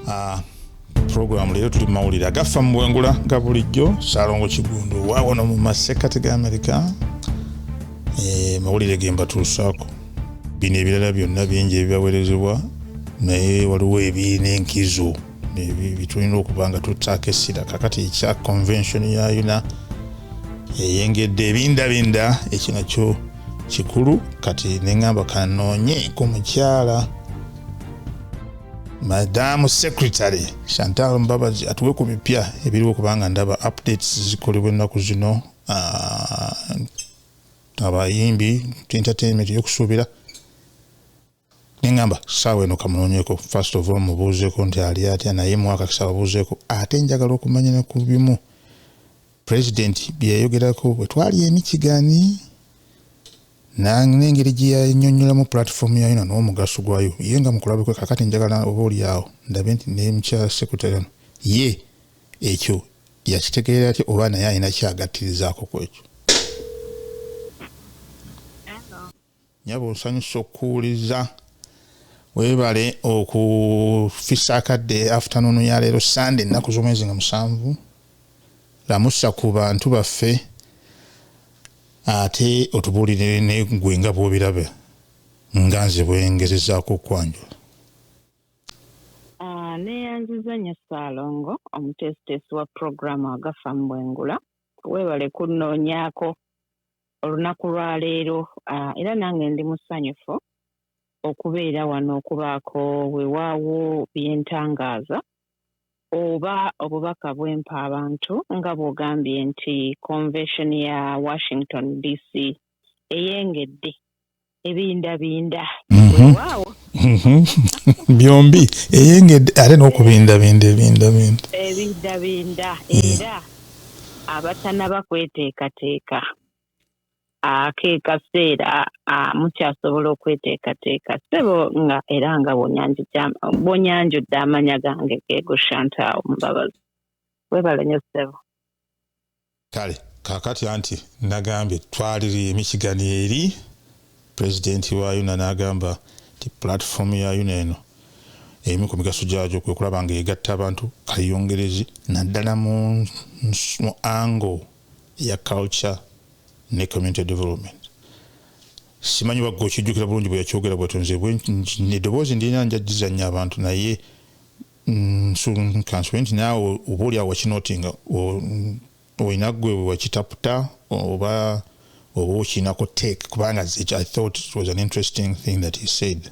Uh, pulogulaamu leero tuli mumawulire agaffa mu bwengula nga bulijjo salongo kigundu wawano mu masekkati ga amerika eh, mawulire gembatuusaako bino ebirala byonna bingi ebibawerezebwa naye waliwo ebiina enkizo bitulina okuba nga tutaako essira kakati ekya convention ya yuna eyengedde ebindabinda ekyo nakyo kikulu kati neŋamba kanoonye ku mukyala madaamu secretary chantal mbabazi atuwe ku bipya ebiriwo kubanga ndaba updates zikolebwa ennaku zino ah, abayimbi entertainment yokusuubira neŋamba saawa eno kamunoonyeko first of all mubuuzeeko nti ali atya naye mwaka kisababuuzeeko ate njagala okumanya ne ku bimu president byeyayogerako bwe twali emikigani Nang n'engeri gye yannyonnyolamu pulatifoomu yaayo na n'omugaso gwayo ye nga mu kulabikwe kakati njagala oba oli awo ndabe nti ne mukyala Secretary ono ye ekyo yakitegeera atya oba naye alina kyagattirizaako ku ekyo. Nyabo nsanyuse okukuwuliza. Weebale okufisa akadde afternoon ya leero Sunday ennaku z'omwezi nga musanvu. Lamusa ku bantu baffe. Ate otubuulire ne ggwe nga bw'obirabe nga nze bwe ngezezaako okukwanjula. Ah, neeyanziza nnyo Ssaalongo omuteesiteesi wa pulogulaamu Agafa mu Bwengula. Weebale kunnoonyaako olunaku lwa leero ah, era nange ndi musanyufu okubeera wano okubaako wewaawo bye ntangaaza oba obubaka bwempa abantu nga bwogambye nti convetion ya Washington DC eyengedde ebindabinda mhm. wewaawo mhm. byombi eyengedde ate n'okubindabinda ebindabinda ebindabinda era abatanaba kweteekateeka akekaseera mukyasobola okweteekateeka ssebo nga era nga bwonyanjudde amanya gange geego shantawo mubabazi webale nyo ssebo kale kakati anti nagambye twaliri emichigani eri pulezidenti wa yuna nagamba nti pulatifomu ya yuna eno emu ku migaso gyagyo kwe kulaba nga egatta abantu kayongerezi naddala mu ango ya culture ne community development simanyi bagga okijjukira bulungi bwe yakyogera bwatyo nze edoboozi ndina njajizanya abantu naye nsunkansiwe mm, nti naawe oba oli awo wakinoti nga olina gwe wakitaputa oba oba okiinako take kubanga i thought it was an interesting thing that he said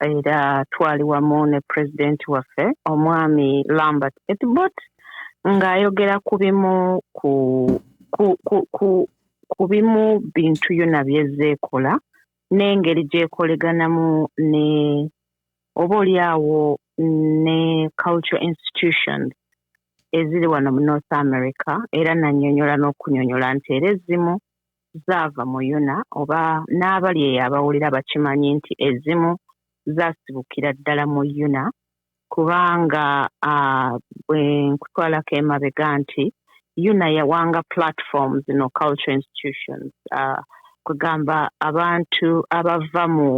era twali wamu ne pulezidenti waffe omwami lambert etbot ng'ayogera ku bimu ku ku, ku, ku, ku bimu bintu yona byezza ekola n'engeri gyekoleganamu ne oba oli awo ne culture institutions eziri wano mu north america era nanyonyola n'okunyonyola nti era ezimu zaava mu Yona oba n'abali eyo abawulira bakimanyi nti ezimu zaasibukira ddala mu Yona kubanga bwe nkutwalako emabega nti Yona yawanga platforms no culture institutions kugamba abantu abava mu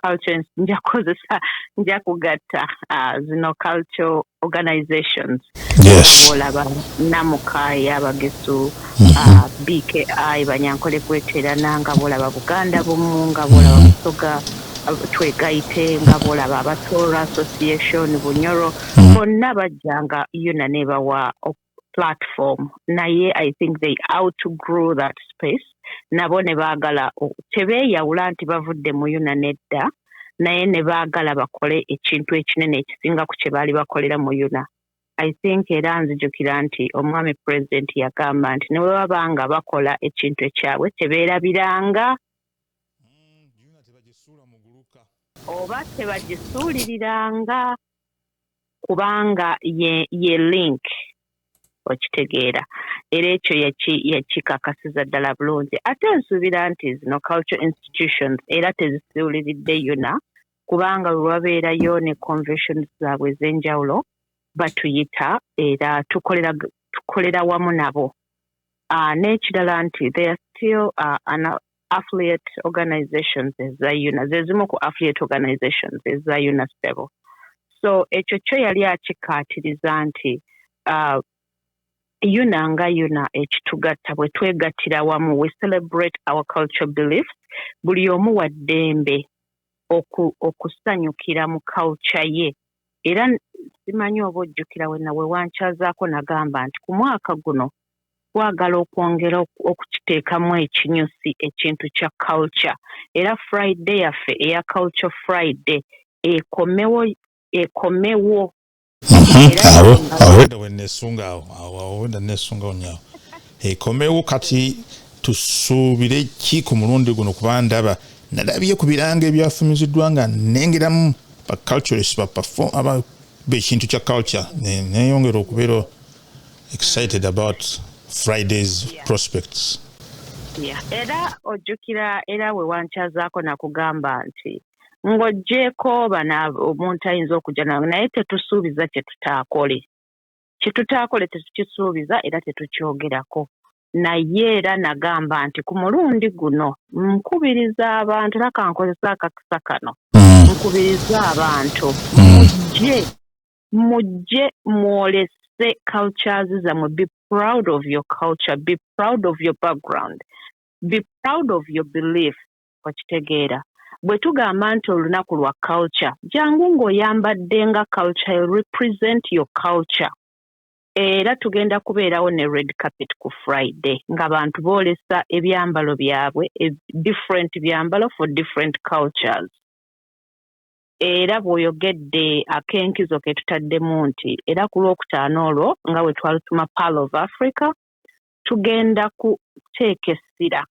culture nja kukozesa nja kugatta uh, zino culture organizations yes. olaba namukaayi abagesu uh, mhm. bki banyankole kweterana nga bolaba buganda bumu nga bolaba mhm. busoga mm -hmm. twegaite nga bolaba abatoora association bunyoro mhm. bonna bajjanga yona nebawa platform naye i think they outgrew that space nabo ne baagala tebeeyawula nti bavudde mu yuna nedda naye ne baagala bakole ekintu ekinene ekisinga ku kye baali bakolera mu yuna i think era nzijukira nti omwami pulezidenti yagamba nti ne bwe baba nga bakola ekintu ekyabwe tebeerabiranga mm, oba tebagisuuliriranga kubanga ye, ye link okitegeera era ekyo yakikakasiza ddala bulungi ate nsuubira nti zino culture institutions era tezisuuliridde yona kubanga wewabeerayo ne convention zaabwe ez'enjawulo batuyita era tukolera tukolera wamu nabo uh, n'ekirala nti they are still uh, affiliate organizations eza una zezimu ku affiliate organizations eza una sebo so ekyo kyo yali akikkaatiriza nti uh, una nga una ekitugatta bwe twegattira wamu we celebrate our culture beliefs buli omu wa ddembe okusanyukira mu culture ye era simanyi oba ojjukira wena wewankyazaako nagamba nti ku mwaka guno twagala okwongera okukiteekamu ekinyusi ekintu kya culture era Friday yaffe eya Culture Friday ekomewo ekomewo awo awo wenda wenesunga awo awo awo wenda nesungawo nyawo ekomewo kati tusuubire ki ku mulundi guno kuba ndaba nalabye ku biranga ebyafumiziddwa nga nengeramu baculturist baperfom aba bekintu kya culture neyongera okubeera excited about Friday's yeah. prospects. Yeah. Era ojjukira era we wankyazaako nakugamba nti ng'oggyeeko bana omuntu ayinza okujja nawe naye tetusuubiza kye tutaakole kye tutaakole tetukisuubiza era tetukyogerako naye era nagamba nti ku mulundi guno nkubiriza abantu era kankozesa akakisa kano mm. nkubiriza abantu mm. mujje mujje mwolese cultures zamwe be proud of your culture be proud of your background be proud of your belief okitegeera bwe tugamba nti olunaku lwa culture jangu ng'oyambadde nga culture represent your culture era tugenda kubeerawo ne red carpet ku friday nga bantu boolesa ebyambalo byabwe e different byambalo for different cultures era bw'oyogedde ak'enkizo ke tutaddemu nti era ku Lwokutaano olwo nga bwe twalutuma Pearl of Africa, tugenda kuteeka essira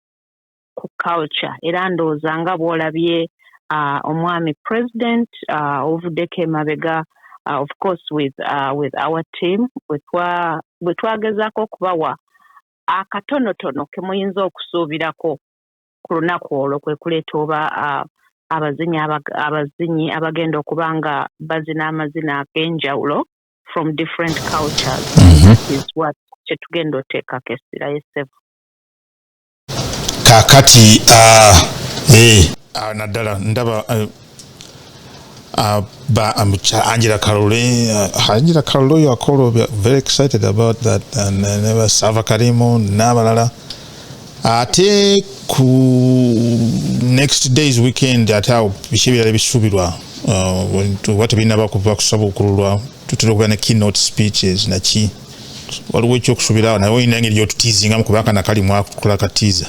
ku culture era ndowooza nga bw'olabye omwami president ovuddeko emabega of course with, uh, with our team bwe twagezaako okubawa akatonotono ke muyinza okusuubirako ku lunaku olwo kwe kuleeta oba abazinyi abazinyi abagenda okuba nga bazina amazina ag'enjawulo from different cultures mhm. is what kyetugenda oteekako essira yesevu kakati ah, eh. ah, naddala ndaba eh, Uh, but um, Angela Kalule, uh, Angela Kalule, you are called, we are very excited about that. And uh, never Sava Karimu, Nabalala. Ate ku next day's weekend ate awo biki ebirala ebisuubirwa oba tebinaba kuva kusaba okululwa tutera okubeera ne keynote speeches naki waliwo ekyokusuubirawo naye olina engeri gyotutiizingamu kubanga nakali mwakukola katiiza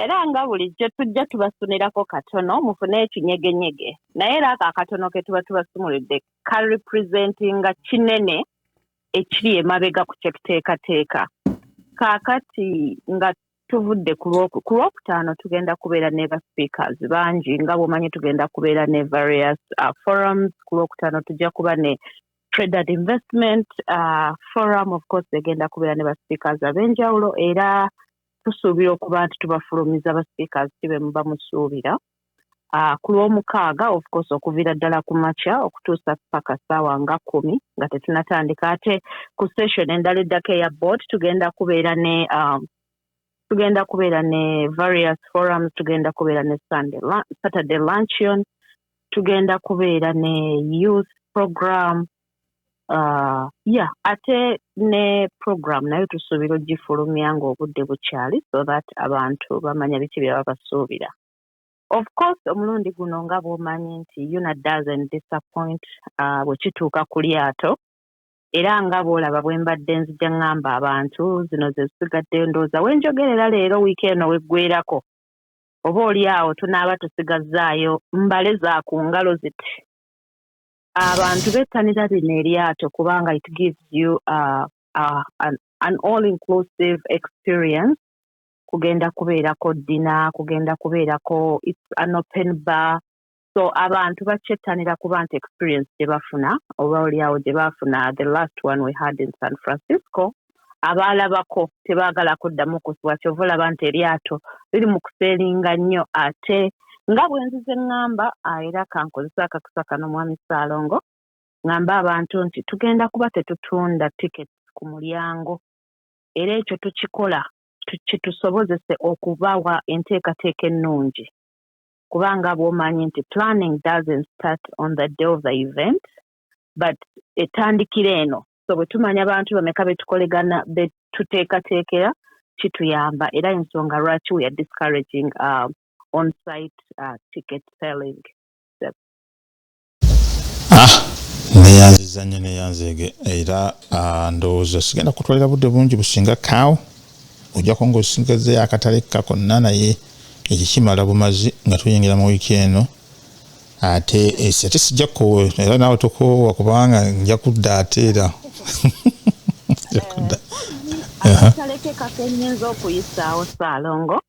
era nga bulijjo tujja tubasunirako katono mufune ekinyegenyege naye era ako akatono ke tuba tubasumulidde ka representinga kinene ekiri emabega ku kyekuteekateeka kaakati nga tuvudde ku lwokutaano tugenda kubeera ne ba speakers bangi nga bwomanyi tugenda kubeera ne various uh, forums ku lwokutaano tujja kuba ne Traded Investment uh, Forum of course egenda kubeera ne ba speakers ab'enjawulo era tusuubira okuba nti tubafulumiza ba speakers kibe muba musuubira uh, ku lw'omukaaga of course okuviira ddala ku makya okutuusa paka ssaawa nga kkumi nga tetunatandika ate ku session endala eddako eya board tugenda kubeera ne um, tugenda kubeera ne various forums tugenda kubeera ne sunday saturday luncheon tugenda kubeera ne youth program uh, ya yeah, ate ne program nayo tusuubira ogifulumya ng'obudde bukyali so that abantu bamanya biki bye babasuubira of course omulundi guno nga bw'omanyi nti una doesn't disappoint uh, bwe kituuka ku lyato era nga bw'olaba bwe mbadde nzija ŋŋamba abantu, zino ze zisigaddeyo. Ndowooza we njogerera leero, wiiki eno w'eggweerako, oba oli awo tunaaba tusigazzaayo mbale za ku ngalo ziti. Abantu bettanira lino eryato kubanga it gives you uh, uh, an, an all inclusive experience kugenda kubeerako ddina kugenda kubeerako its an open bar so abantu bakyettanira kuba nti experience gye bafuna oba olyawo gye baafuna the last one we had in san francisco abaalabako tebaagala kuddamu kusiwa kyova olaba nti eryato liri mu kuseeringa nnyo ate nga bwenzize eŋŋamba ah, era kankozesa akakisa kano mwami ssaalongo ŋŋamba abantu nti tugenda kuba tetutunda tiketi ku mulyango era ekyo tukikola kitusobozese okubawa enteekateeka ennungi kubanga bwomanyi nti planning doesn't start on the day of the event but etandikira eno so bwe tumanya abantu bameka betukolegana betuteekateekera kituyamba era ensonga lwaki we are discouraging uh, on site uh, ticket selling ah, neyanziza nyo neyanzege era ah, ndowooza sigenda kutwalira budde bungi businga kawo ojako ngaosingazeyo akatale kakonna naye ekikimala bumazi nga tuyingira mu wiiki eno ate eh, ate sijja kukoowa era naawe tokoowa kubanga nja kudda ate era akatale ke kakenyinza okuyisaawo saalongo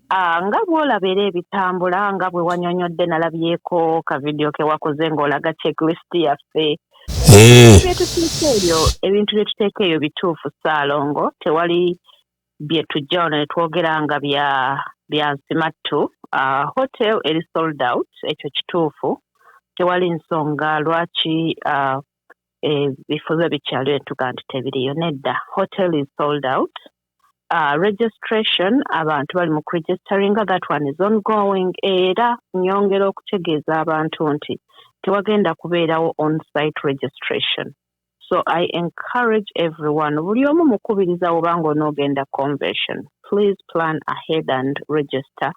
Ah, nga bw'olaba era ebitambula nga bwe wanyonyodde nalabyeko ka vidiyo ke wakoze ng'olaga checklist yaffe eh. byetuteeka eyo ebintu bye tuteeka eyo bituufu ssaalongo tewali bye tujja wano ne twogera nga bya bya nsimattu ah, hotel eri sold out ekyo kituufu tewali nsonga lwaki ah, ebifo biba bikyaliwo netuga nti tebiriyo nedda hotel is sold out uh, registration abantu bali mu kuregisteringa that one is ongoing era nyongera okutegeeza abantu nti tewagenda kubeerawo on site registration so i encourage everyone buli omu mukubiriza obanga onoogenda convention please plan ahead and register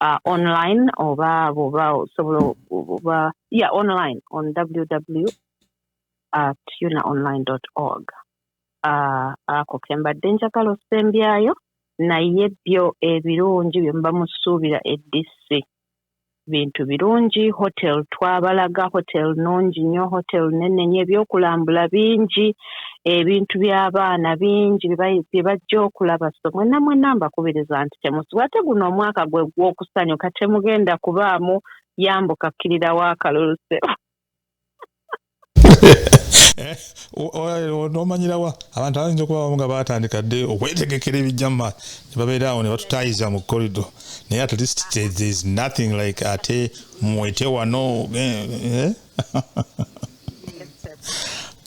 uh, online oba bwoba osobola oba ya online on ww uh, tuna online org uh, ako kembadde njagala osembyayo naye byo ebirungi bye muba musuubira edc bintu birungi hotel twabalaga hotel nungi nnyo hotel nene nyo ebyokulambula bingi ebintu by'abaana bingi bye bajja okulaba so mwena mwena mbakubiriza nti temusibwa ate guno omwaka gwe gw'okusanyuka temugenda kubaamu yambuka kkirirawo akalulu sebo eh, nomanyirawa abantu abayinza okuba bamu nga batandika dde okwetegekera ebijja mu maaso ne babeera awo ne batutaayiza mu korido naye at least thereis nothing like ate mwete wano eh, eh.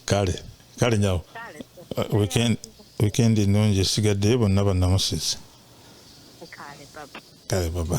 kale kale nyawo weekend weekend ennungi esigaddeyo bonna bannamusizi kale baba